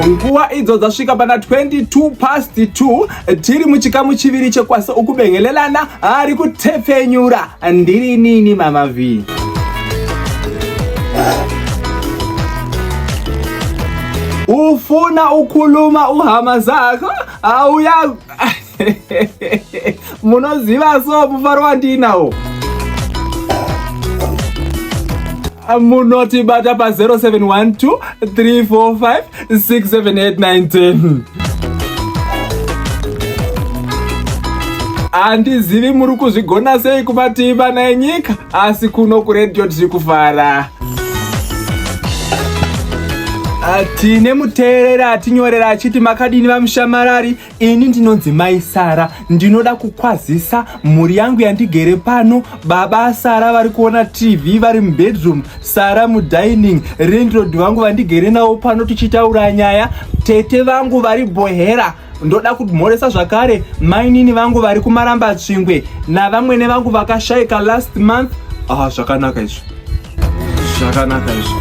nguva idzo dzasvika pana 22 past 2 tiri muchikamu chiviri chekwasa ukubengelelana ari kutepfenyura ndiri nini mama vhii ufuna ukhuluma uhama zakho awuya munoziva so mufaro wandiinawo munotibata pa 0712 345 678 handizivi muri kuzvigona sei kumativi vana enyika asi kuno kuredio tiri kufara tine muteereri atinyorera achiti makadini vamushamarari Ini ndinonzi mai Sara, ndinoda kukwazisa mhuri yangu yandigere pano. Baba Sara vari kuona TV vari mubedroom, Sara mudining, Rindrod vangu vandigere navo pano tichitaura nyaya, tete vangu vari bohera ndoda kumhoresa zvakare mainini vangu vari kumaramba tsvingwe navamwene vangu vakashaika last month. Ah, zvakanaka izvo. zvakanaka izvo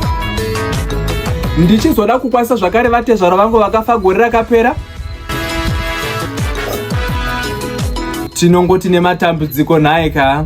ndichizoda kukwanisa zvakare vatezvara vangu vakafa gore rakapera tinongoti nematambudziko nhaye kaa